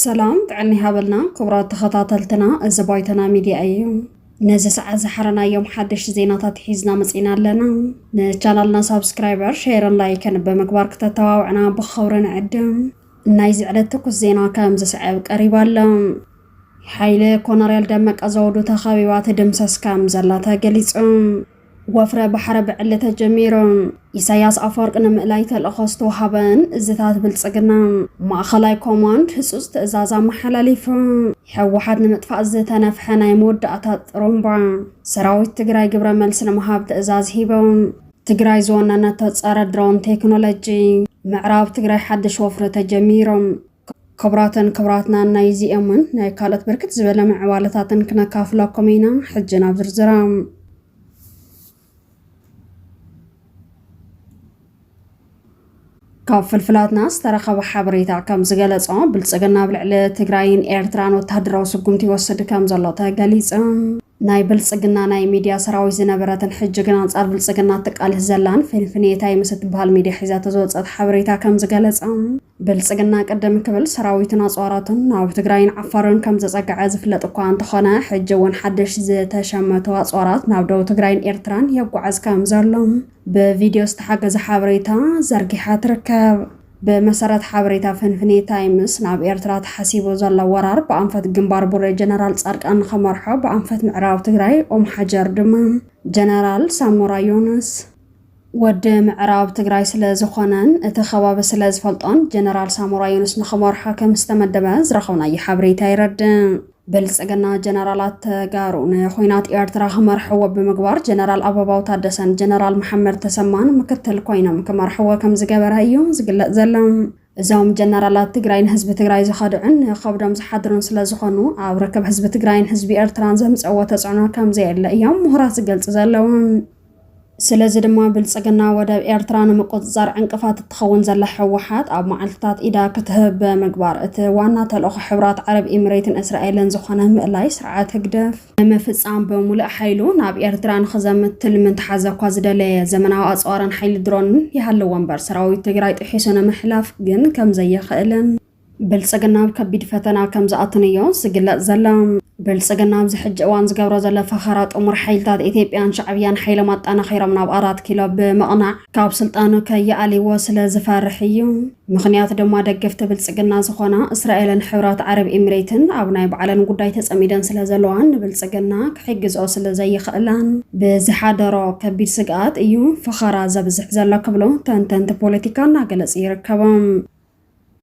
ሰላም ጥዕና ይሃበልና ክቡራት ተኸታተልትና፣ እዚ ባይቶና ሚድያ እዩ። ነዚ ሰዓት ዝሓረናዮም ሓደሽቲ ዜናታት ሒዝና መፂና ኣለና። ንቻናልና ሳብስክራይበር፣ ሼርን ላይክን ብምግባር ክተተባብዕና ብኸብሪ ንዕድም። ናይዚ ዕለት ትኩስ ዜና ከም ዝስዕብ ቀሪቡ ኣሎ። ሓይሊ ኮነሬል ደመቀ ዘውዱ ተኸቢባ ትድምሰስ ከም ዘላ ተገሊጹ። ወፍረ ባሕሪ ብዕሊ ተጀሚሩ። ኢሳያስ ኣፈወርቂ ንምእላይ ተልእኾ ዝተውሃበን እዝታት ብልጽግና ማእኸላይ ኮማንድ ህጹጽ ትእዛዝ ኣመሓላሊፉ። ሕወሓት ንምጥፋእ ዝተነፍሐ ናይ መወዳእታ ጥሩምባ። ሰራዊት ትግራይ ግብረ መልሲ ንምሃብ ትእዛዝ ሂቡ። ትግራይ ዝወነነቶ ጸረ ድሮን ቴክኖሎጂ። ምዕራብ ትግራይ ሓድሽ ወፍሪ ተጀሚሩ። ክብራትን ክብራትናን ናይዚ እሙን ናይ ካልኦት ብርክት ዝበለ ምዕባለታትን ክነካፍለኩም ኢና። ሕጂ ናብ ዝርዝሮም ካብ ፍልፍላትና ዝተረኸበ ሓበሬታ ከም ዝገለጾ ብልጽግና ኣብ ልዕሊ ትግራይን ኤርትራን ወተሃደራዊ ስጉምቲ ይወስድ ከም ዘሎ ተገሊጹ። ናይ ብልፅግና ናይ ሚድያ ሰራዊት ዝነበረትን ሕጂ ግን ኣንፃር ብልፅግና እትቃልስ ዘላን ፊንፍኔ ታይ ምስ እትበሃል ሚድያ ሒዛቶ ዝወፀት ሓበሬታ ከምዝገለፃ ብልፅግና ቅድም ክብል ሰራዊቱን ኣፅዋራቱን ናብ ትግራይን ዓፋርን ከምዘፀገዐ ዝፍለጥ እኳ እንተኾነ ሕጂ እውን ሓድሽ ዝተሸመቱ ኣፅዋራት ናብ ደቡብ ትግራይን ኤርትራን የጓዕዝ ከምዘሎ ብቪድዮ ዝተሓገዘ ሓበሬታ ዘርጊሓ ትርከብ። ብመሰረት ሓበሬታ ፍንፍኔ ታይምስ፣ ናብ ኤርትራ ተሓሲቡ ዘሎ ወራር ብኣንፈት ግንባር ቡሬ ጀነራል ጻድቃን ንኸመርሖ፣ ብኣንፈት ምዕራብ ትግራይ ኦምሓጀር ድማ ጀነራል ሳሞራ ዮኑስ፣ ወዲ ምዕራብ ትግራይ ስለ ዝኾነን እቲ ከባቢ ስለ ዝፈልጦን፣ ጀነራል ሳሞራ ዮኑስ ንኽመርሖ ከም ዝተመደበ ዝረኸብናዮ ሓበሬታ የረድእ። ብልፅግና ጀነራላት ተጋሩ ንኹናት ኤርትራ ክመርሕዎ ብምግባር ጀነራል ኣበባው ታደሰን ጀነራል መሓመድ ተሰማን ምክትል ኮይኖም ክመርሕዎ ከምዝገበረ እዩ ዝግለፅ ዘሎ። እዞም ጀነራላት ትግራይ ንህዝቢ ትግራይ ዝኸድዑን ንኸብዶም ዝሓድሩን ስለዝኾኑ ኣብ ርክብ ህዝቢ ትግራይን ህዝቢ ኤርትራን ዘምፀእዎ ተፅዕኖ ከምዘየለ እዮም ምሁራት ዝገልፁ ዘለዉ። ስለዚ ድማ ብልፅግና ወደብ ኤርትራ ንምቁፅፃር ዕንቅፋት እትኸውን ዘላ ሕወሓት ኣብ መዓልትታት ኢዳ ክትህብ ብምግባር እቲ ዋና ተልእኾ ሕብራት ዓረብ ኢምሬትን እስራኤልን ዝኾነ ምእላይ ስርዓት ህግደፍ ንምፍፃም ብምሉእ ሓይሉ ናብ ኤርትራ ንኽዘምት ትልሚ እንተሓዘ እኳ ዝደለየ ዘመናዊ ኣፅዋርን ሓይሊ ድሮንን ይሃልዎ እምበር ሰራዊት ትግራይ ጥሒሱ ንምሕላፍ ግን ከምዘይኽእልን ብልፅግና ኣብ ከቢድ ፈተና ከምዝኣትን እዮ ዝግለፅ ዘሎ። ብልፅግና ኣብዚ ሕጂ እዋን ዝገብሮ ዘሎ ፈኸራ ጥሙር ሓይልታት ኢትዮጵያን ሻዕብያን ሓይሎም ኣጣናኺሮም ናብ ኣራት ኪሎ ብምቕናዕ ካብ ስልጣኑ ከይኣልይዎ ስለዝፈርሕ እዩ። ምኽንያቱ ድማ ደገፍቲ ብልፅግና ዝኾና እስራኤልን ሕብራት ዓረብ ኢሚሬትን ኣብ ናይ ባዕለን ጉዳይ ተፀሚደን ስለዘለዋ ንብልፅግና ክሕግዝኦ ስለዘይኽእላን ብዝሓደሮ ከቢድ ስግኣት እዩ ፈኸራ ዘብዝሕ ዘሎ ክብሉ ተንተንቲ ፖለቲካ እናገለፁ ይርከቡ።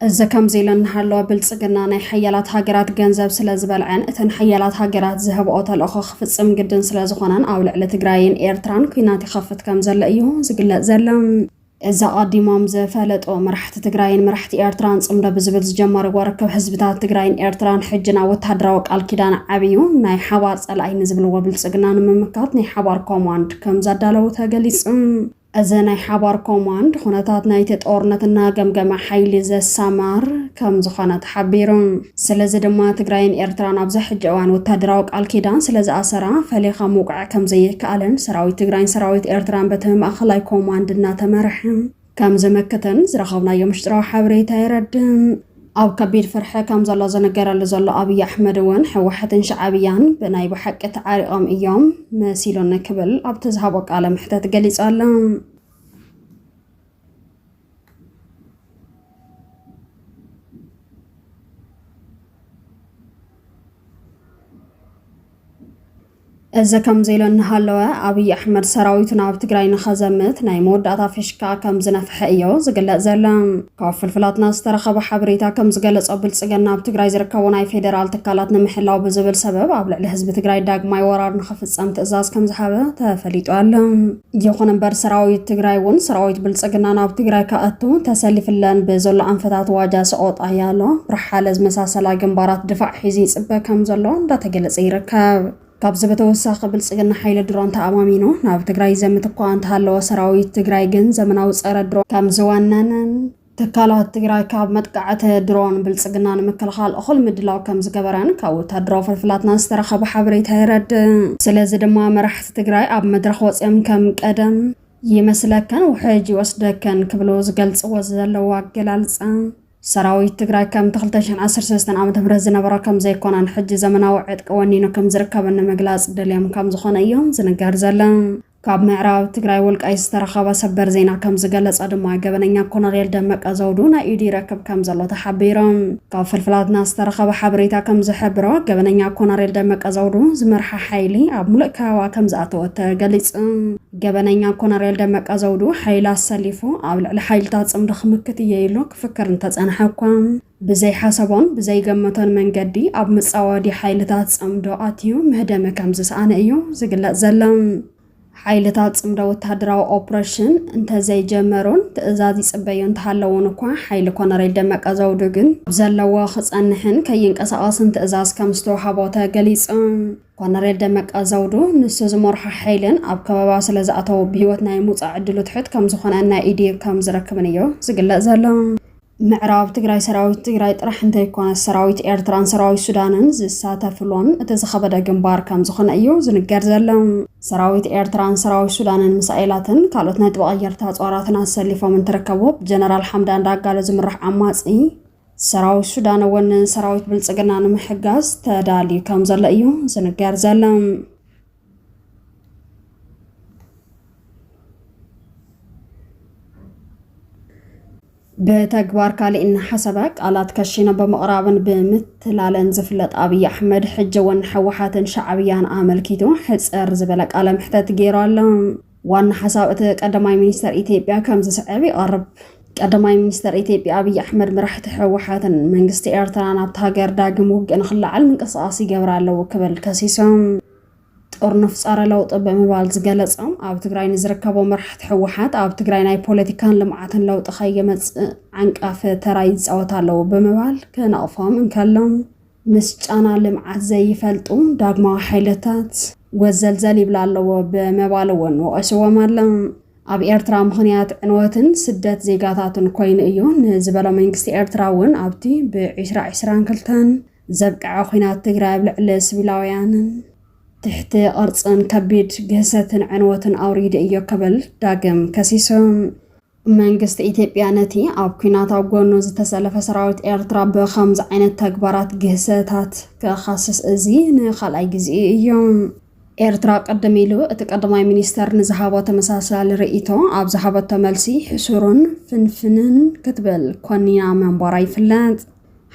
እዚ ከምዚ ኢሉ እናሃለወ ብልፅግና ናይ ሓያላት ሃገራት ገንዘብ ስለ ዝበልዐን እተን ሓያላት ሃገራት ዝሀብኦ ተልእኾ ክፍፅም ግድን ስለ ዝኾነን ኣብ ልዕሊ ትግራይን ኤርትራን ኲናት ይኸፍት ከም ዘሎ እዩ ዝግለፅ ዘሎ። እዚ ኣቐዲሞም ዝፈለጡ መራሕቲ ትግራይን መራሕቲ ኤርትራን ፅምዶ ብዝብል ዝጀመርዎ ርክብ ህዝብታት ትግራይን ኤርትራን ሕጂ ናብ ወታሃደራዊ ቃል ኪዳን ዓብዩ ናይ ሓባር ፀላኢ ንዝብልዎ ብልፅግና ንምምካት ናይ ሓባር ኮማንድ ከም ዘዳለዉ ተገሊፁ። እዚ ናይ ሓባር ኮማንድ፣ ኹነታት ናይቲ ጦርነት እናገምገመ ሓይሊ ዘሰማር ከምዝኾነ ተሓቢሩ። ስለዚ ድማ ትግራይን ኤርትራን ኣብዚ ሕጂ እዋን ወታደራዊ ቃል ኪዳን ስለዝኣሰራ ፈሊኻ ምውቃዕ ከምዘይከኣልን ሰራዊት ትግራይን ሰራዊት ኤርትራን በቲ ማእኸላይ ኮማንድ እናተመርሐ ከምዝምክትን ዝረኸብናዮ ምሽጥራዊ ሓበሬታ የረድእ። ኣብ ከቢድ ፍርሒ ከምዘሎ ዝንገረሉ ዘሎ ኣብይ ኣሕመድ እውን ህወሓትን ሻዓብያን ብናይ ብሓቂ ተዓሪቖም እዮም መሲሉኒ ክብል ኣብቲ ዝሃቦ ቃለ መሕተት ገሊጹ ኣሎ። እዚ ከምዚ ኢሉ እናሃለወ ኣብይ ኣሕመድ ሰራዊቱ ናብ ትግራይ ንኸዘምት ናይ መወዳእታ ፊሽካ ከምዝነፍሐ እዮ ዝግለፅ ዘሎ። ካብ ፍልፍላትና ዝተረኸበ ሓበሬታ ከምዝገለፆ ብልፅግና ኣብ ትግራይ ዝርከቡ ናይ ፌደራል ትካላት ንምሕላው ብዝብል ሰበብ ኣብ ልዕሊ ህዝቢ ትግራይ ዳግማይ ወራር ንኽፍፀም ትእዛዝ ከምዝሃበ ተፈሊጡ ኣሎ። ይኹን እምበር ሰራዊት ትግራይ እውን ሰራዊት ብልፅግና ናብ ትግራይ ክኣቱ ተሰሊፍለን ብዘሎ ኣንፈታት ዋጃ ሰቆጣ ኣያሎ ብርሓለ ዝመሳሰላ ግንባራት ድፋዕ ሒዙ ይፅበ ከም ዘሎ እንዳተገለፀ ይርከብ። ካብዚ ብተወሳኺ ብልፅግና ሓይሊ ድሮን ተኣማሚኑ ናብ ትግራይ ይዘምት እኳ እንተሃለወ ሰራዊት ትግራይ ግን ዘመናዊ ፀረ ድሮን ከም ዝወነነን ትካላት ትግራይ ካብ መጥቃዕቲ ድሮን ብልፅግና ንምክልኻል እኹል ምድላው ከም ዝገበረን ካብ ወታደራዊ ፍልፍላትና ዝተረኸበ ሓበሬታ የረድእ። ስለዚ ድማ መራሕቲ ትግራይ ኣብ መድረኽ ወፂኦም ከም ቀደም ይመስለከን ውሕጅ ይወስደከን ክብሉ ዝገልፅዎ ዘለዉ ኣገላልፃ ሰራዊት ትግራይ ከምቲ 2013 ዓ ም ዝነበሮ ከም ዘይኮነን ሕጂ ዘመናዊ ዕጥቂ ወኒኑ ከም ዝርከብን ንምግላፅ ደልዮም ከም ዝኾነ እዮም ዝንገር ዘሎ። ካብ ምዕራብ ትግራይ ወልቃይት ዝተረኸበ ሰበር ዜና ከም ዝገለጸ ድማ ገበነኛ ኮነሬል ደመቀ ዘውዱ ናይ ኢዱ ይረክብ ከም ዘሎ ተሓቢሩ። ካብ ፍልፍላትና ዝተረኸበ ሓበሬታ ከም ዝሕብሮ ገበነኛ ኮነሬል ደመቀ ዘውዱ ዝመርሓ ሓይሊ ኣብ ሙሉእ ከበባ ከም ዝኣተወ ተገሊጹ። ገበነኛ ኮነሬል ደመቀ ዘውዱ ሓይሊ ኣሰሊፉ ኣብ ልዕሊ ሓይልታት ጽምዶ ክምክት እየ ኢሉ ክፍክር እንተጸንሐ እኳ ብዘይሓሰቦን ብዘይገመቶን መንገዲ ኣብ መጻወዲ ሓይልታት ጽምዶ ኣትዩ ምህደሚ ከም ዝሰኣነ እዩ ዝግለጽ ዘሎ። ሓይልታት ጽምዶ ወተሃደራዊ ኦፕሬሽን እንተዘይጀመሩን ትእዛዝ ይጽበዩ እንተሃለዉን እኳ ሓይሊ ኮነሬል ደመቀ ዘውዱ ግን ኣብ ዘለዎ ክጸንሕን ከይንቀሳቐስን ትእዛዝ ከም ዝተውሃቦ ተገሊጹ። ኮነሬል ደመቀ ዘውዱ ንሱ ዝመርሖ ሓይልን ኣብ ከበባ ስለ ዝኣተዉ ብህይወት ናይ ምውጻእ ዕድሉ ትሑት ከም ዝኾነን ናይ ኢድ ከም ዝረክብን እዩ ዝግለጽ ዘሎ። ምዕራብ ትግራይ ሰራዊት ትግራይ ጥራሕ እንተይኮነስ ሰራዊት ኤርትራን ሰራዊት ሱዳንን ዝሳተፍሉን እቲ ዝኸበደ ግንባር ከምዝኾነ እዩ ዝንገር ዘሎ። ሰራዊት ኤርትራን ሰራዊት ሱዳንን ምሳኤላትን ካልኦት ናይ ጥበቐየርቲ ኣፅዋራትን ኣሰሊፎም እንትርከቡ ብጀነራል ሓምዳን ዳጋሎ ዝምራሕ ዓማፂ ሰራዊት ሱዳን እውን ንሰራዊት ብልፅግና ንምሕጋዝ ተዳልዩ ከምዘሎ እዩ ዝንገር ዘሎ። ብተግባር ካሊእ እናሓሰበ ቃላት ከሺኑ ብምቕራብን ብምትላለን ዝፍለጥ ኣብይ ኣሕመድ ሕጂ እውን ንሕወሓትን ሻዕብያን ኣመልኪቱ ሕፅር ዝበለ ቃለ መሕተት ገይሩ ኣሎ። ዋና ሓሳብ እቲ ቀዳማይ ሚኒስተር ኢትዮጵያ ከም ዝስዕብ ይቐርብ። ቀዳማይ ሚኒስተር ኢትዮጵያ ኣብይ ኣሕመድ መራሕቲ ህወሓትን መንግስቲ ኤርትራን ኣብቲ ሃገር ዳግም ውግእ ንክለዓል ምንቅስቓስ ይገብራ ኣለዉ ክብል ከሲሶም። ጥርኑፍ ጸረ ለውጢ ብምባል ዝገለጾም ኣብ ትግራይ ንዝርከቡ መራሕቲ ህወሓት ኣብ ትግራይ ናይ ፖለቲካን ልምዓትን ለውጢ ከይመጽእ ዓንቃፊ ተራ ይጻወት ኣለዉ ብምባል ክነቕፎም እንከሎም ምስ ጫና ልምዓት ዘይፈልጡ ዳግማዊ ሓይልታት ወዘልዘል ይብላ ኣለዎ ብምባል እውን ወቒስዎም ኣሎ። ኣብ ኤርትራ ምኽንያት ዕንወትን ስደት ዜጋታትን ኮይኑ እዩ ንዝበሎ መንግስቲ ኤርትራ እውን ኣብቲ ብ ዕስራ ዕስራን ክልተን ዘብቀዐ ኲናት ትግራይ ኣብ ልዕሊ ስቪላውያንን ትሕቲ ቅርጽን ከቢድ ግህሰትን ዕንወትን ኣውሪዱ እዮ ክብል ዳግም ከሲሱ። መንግስቲ ኢትዮጵያ ነቲ ኣብ ኲናት ኣብ ጎኑ ዝተሰለፈ ሰራዊት ኤርትራ ብኸምዚ ዓይነት ተግባራት ግህሰታት ክኸስስ እዚ ንኻልኣይ ግዜኡ እዩ። ኤርትራ ቅድም ኢሉ እቲ ቀዳማይ ሚኒስተር ንዝሃቦ ተመሳሳሊ ርእይቶ ኣብ ዝሃበቶ መልሲ ሕሱርን ፍንፍንን ክትብል ኮኒና ምንባራ ይፍለጥ።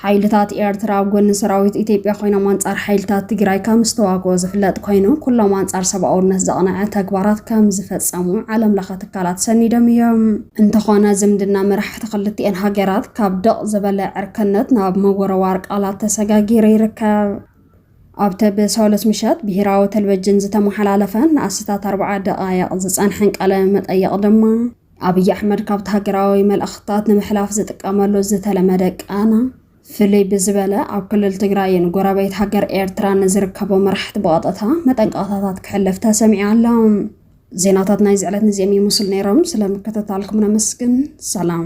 ሓይልታት ኤርትራ ኣብ ጎኒ ሰራዊት ኢትዮጵያ ኮይኖም ኣንጻር ሓይልታት ትግራይ ከም ዝተዋግኦ ዝፍለጥ ኮይኑ ኩሎም ኣንጻር ሰብኣውነት ዘቕነዐ ተግባራት ከም ዝፈጸሙ ዓለም ለኸ ትካላት ሰኒዶም እዮም። እንተኾነ ዝምድና መራሕቲ ክልቲኤን ሃገራት ካብ ደቕ ዝበለ ዕርከነት ናብ ምውርዋር ቃላት ተሰጋጊሩ ይርከብ። ኣብቲ ብሰሉስ ምሸት ብሄራዊ ተልቨጅን ዝተመሓላለፈን ንኣስታት ኣርብዓ ደቓይቕ ዝጸንሐን ቃለ መጠይቕ ድማ ኣብይ ኣሕመድ ካብቲ ሃገራዊ መልእኽትታት ንምሕላፍ ዝጥቀመሉ ዝተለመደ ቃና ፍልይ ብዝበለ ኣብ ክልል ትግራይን ጎረቤት ሃገር ኤርትራን ንዝርከቡ መራሕቲ ብቐጥታ መጠንቀቕታታት ክሕልፍ ተሰሚዑ ኣሎ። ዜናታት ናይዚ ዕለት ንዚኦም ይመስሉ ነይሮም። ስለምክትታልኩም ነመስግን። ሰላም